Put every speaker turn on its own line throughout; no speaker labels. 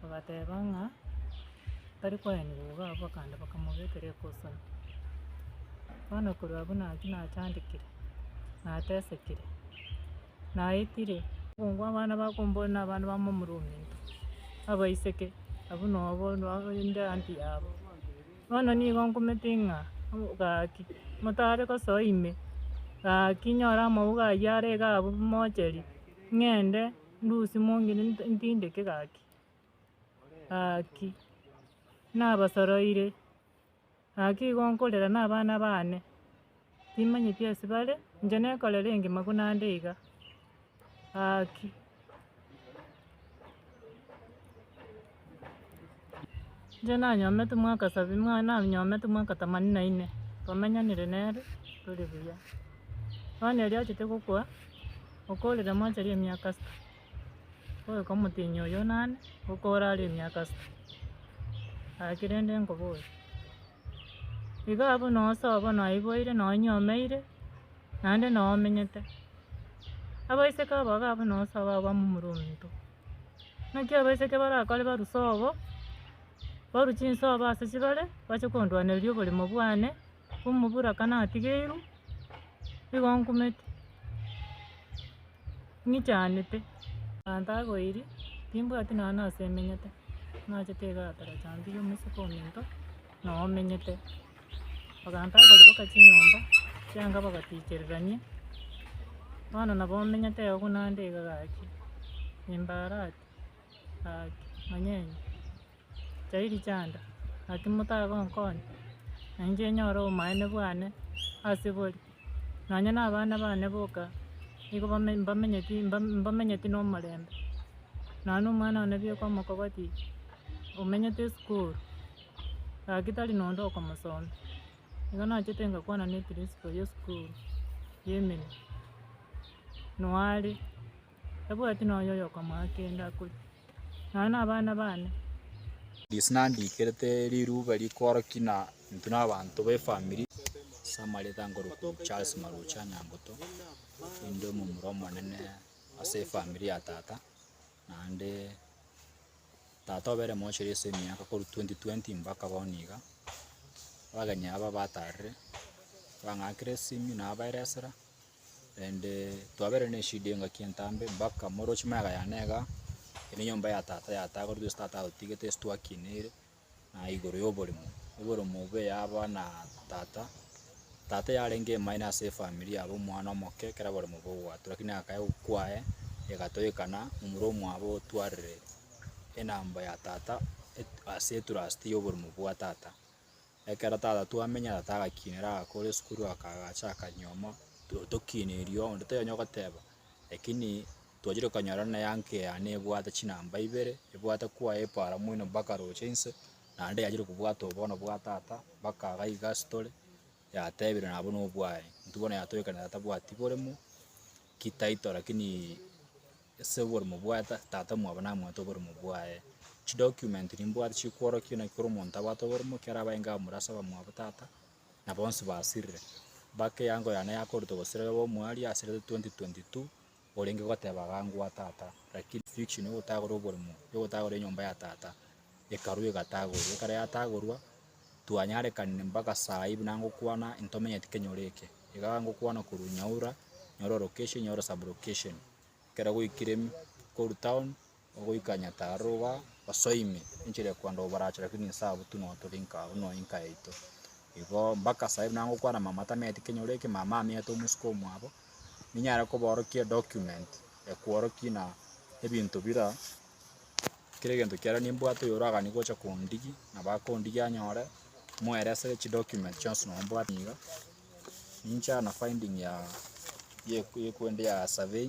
bagateba ng'a tari koenigwa iga abwo bakagenda bakamobekera ekosoni. Bono korwa abwo nachia nachandekire, natesekire, naetire. Obong'u abana bakomboria na abana ba momorwong'oto, abaiseke, abwo nobo inde aambi yabo. Bono nigo nkomete ng'a gaki, motare gosoa ime, gaki nyore amauga ayio are iga abwo mocheria, ng'ende. Ndusi mong'ina ntindeke gaki, gaki, nabasoroire, gaki igo nkorera nabana baane, timanyeti ase bare, inche nekorera engima buna ande iga, gaki. Inche nanyomete mwaka sabini, mwa- nanyomete mwaka themanini na inne, twamenyanire nere tore buya. Bono erio achete gokwa, okorire mwancha ria emiaka isiko, ogoika omotienyi oyo nane, okore are emiaka isiko, aki rende nkobori. Iga abwo noo sawa bono naiboire, noo nyomeire, naende noo menyete. Abaiseke aba iga abwo noo sawa abwo amo omorwonto. Naki abaiseke barakore baruse obo, barwe chinse obo ase chibare, bache kondwanereria oboremo bwane, omobura ka natigeirwe, nigo nkumete, ng'ichanete. Abanto agoiri, timbwati nonya nase emenyete, naachete iga aterecha mbuya omoiseke ominto. nomenyete. Bagantaa koriboka chinyomba chianga bagatichererania, bono nabo omenyete iga buna nde iga gaki, nimbarati gaki monyene, chiayiri chianda gaki motagonkonya, na inche nyore obomaene bwane ase bori, nonya na abana bane boka nigo bame mbamenyeti mbamenyeti na omorembe, nonya na omwana one bieka omokogotie omenyete esukuru. Gaki tari nonde okomosoma. Igo nachete ngakwana ne principal y'esukuru ya emenwa, noo are, tabwati nonya oyokomoa kende akore, nonya na abana bane. This nandiikerete riruuba rikooroki na intwe na abanto ba efamiri. Ase amareeta nkorokwa Charles Marocha Nyangoto, ninde omomura omonene ase efamiri ya tata. Naende tata obe ere mochori ase emiaka korwa twenty twenty mbaka bono iga, abageni aba batarire, bang'akire esimi nabaira esira, naende twabere na eshida engaki entambe mbaka morochi magega yane igaa, ere enyomba ya tata yatakorete gose tata agotigete gose twakineire. na igoro y'oborimo. Oborimo obo yaba na tata, tata yarenge emaino ase efamiri yabo omwana omoke ekero oborimo bogwatua lakini akaya gokwa aye egatoekana momura omwabo otwarire enamba ya tata et- ase etrust y'oborimo bwa tata. Ekero tata twamenya tata agakinera agakora kore esukuru aka agacha akanyiomo to- tokineirio onde tonya ogoteba lakini. Twachire konyora ng'a eanke yane ebwate chinamba ibere, ebwate kwaya epaara moino mpaka roche inse, naende yachire kobwata obono bwa tata mpaka iga iga ase tore, yatebire nabo nobwaye, intwe bono yatoekanete na tabwati boremo, ki title lakini ase oboremo bwaye ta tata mwabo namwete oboremo bwaye. Chidocument nimbwate chikworokia naki kera omonto abwate oboremo ekero abae nkamura ase abamwabo tata, na bonsi basirire. Mpaka eango yane yakorutwa gose riroba omoerio yasirete twenty twenty two. orenge goteba agangwa tata, lakini fiction yogotagora oborimo, yogotagora enyomba ya tata ekarwa egatagorwa, ekero yatagorwa twanyarekanire mpaka sai buna ngokwana ntomenyeti kenyoro eke, iga ngokwana korwa nyaura, nyoro location, nyoro sub location, ekero gwaikire korwa town. Goika nyataaro iga osoe ime, enchera ya kwenda oborache, lakini inse abwo tu nonya tore inka abwo, nonya inka yaito. Igo mpaka saa hii nangokwana mama tameti kenyoro eke, mama amete omosike omwabo, ninyare koborokia edocument ekworokia ng'a ebinto bira, kera egento kiarenge nimbwate oyo oraganie gocha kondigia, nabo akondigia anyore, moeresere chidocument chionsi nonya mbwate iga, ninche na finding ya ya ekwende ya survey.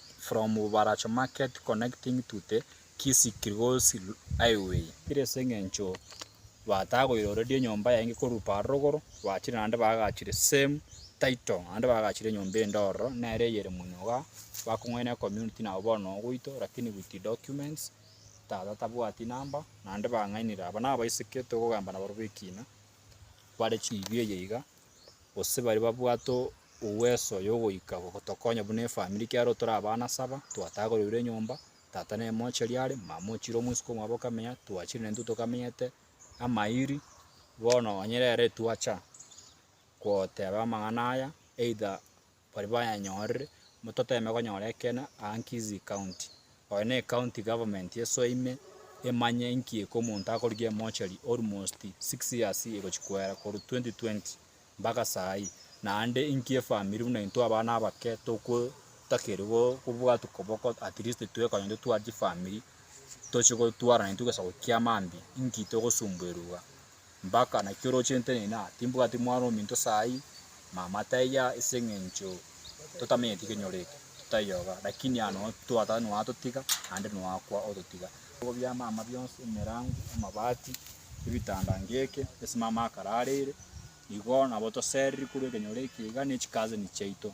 from Baracho Market connecting to the Kisii Kilgoris Highway. Kire ase eng'encho batagoiroreria enyomba yaye korwa are rogoro, bachire naende baagachire same title, naende baagachire enyomba ende ororo nere eyere monyuga, bakong'aina ecommunity nabo bono ogoito lakini with documents, tata tabwati number, naende bang'ainire. Aba nabaiseke tokogamba nabarobwo ekina, bare chiribi eye iga. gose bare babwate uweso yogoika gotokonya buna efamiri ekiagera tore abana saba, twatagoreirwe enyomba, tata nere mocheri are, mama ochire omwesuka omwabo okamenya, twachire naintwe tokamenyete amairi, bono onye rero etwacha goteba amang'ana aya either. baria bayanyorire, mototeeme konyora ekeene aa Nkisii County. Oyo ne County Government esoe ime emanye inki eke omonto akorigia emochari almost six years egochia koera korwa 2020 mpaka saa hii naende inki efamiri buna intwe abana abake togotakeria go kobwatwa koboko at least twekonya intwe tware chifamiri tochie gotwarana intwe egesa gokia mambia inki togosumbuerwa igaa. Mpaka naki oroche ntenena? Timbwati mwana ominto sayi, mama taiya, ase engencho totamenyeti kenyorete, totayoga, lakini ano twatata noatotiga, naende noakwa ototiga. Ebigo bia mama bionsi, emerango, amabati, ebitanda ngeke, ase mama akarareire, igo nabo toseriri korwa ekenyoro eke iga ne chikazeni chiaito.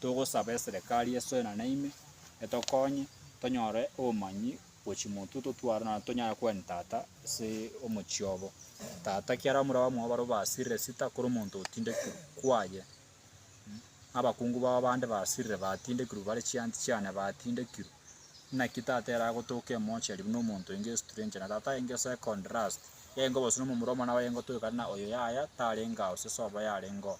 Togosaba eserekari esoe na naime, etokonye tonyore obomanyi. Gochi motu totware na tonyare kogania tata ase omochie obo. Tata kiaro amura bamwabo barabwo basirire sita kore omonto otindekirwe kwaye. Abakungu babo bande basirire batindekirwe bare chianti chiane batindekirwe. Naki tata ere agotoka emochari buna omonto enge estranger na tata enge second last. Engo bosi nomomura omwana waye engo toigana oyo yaya tarenge ao sesobo yarenge oo.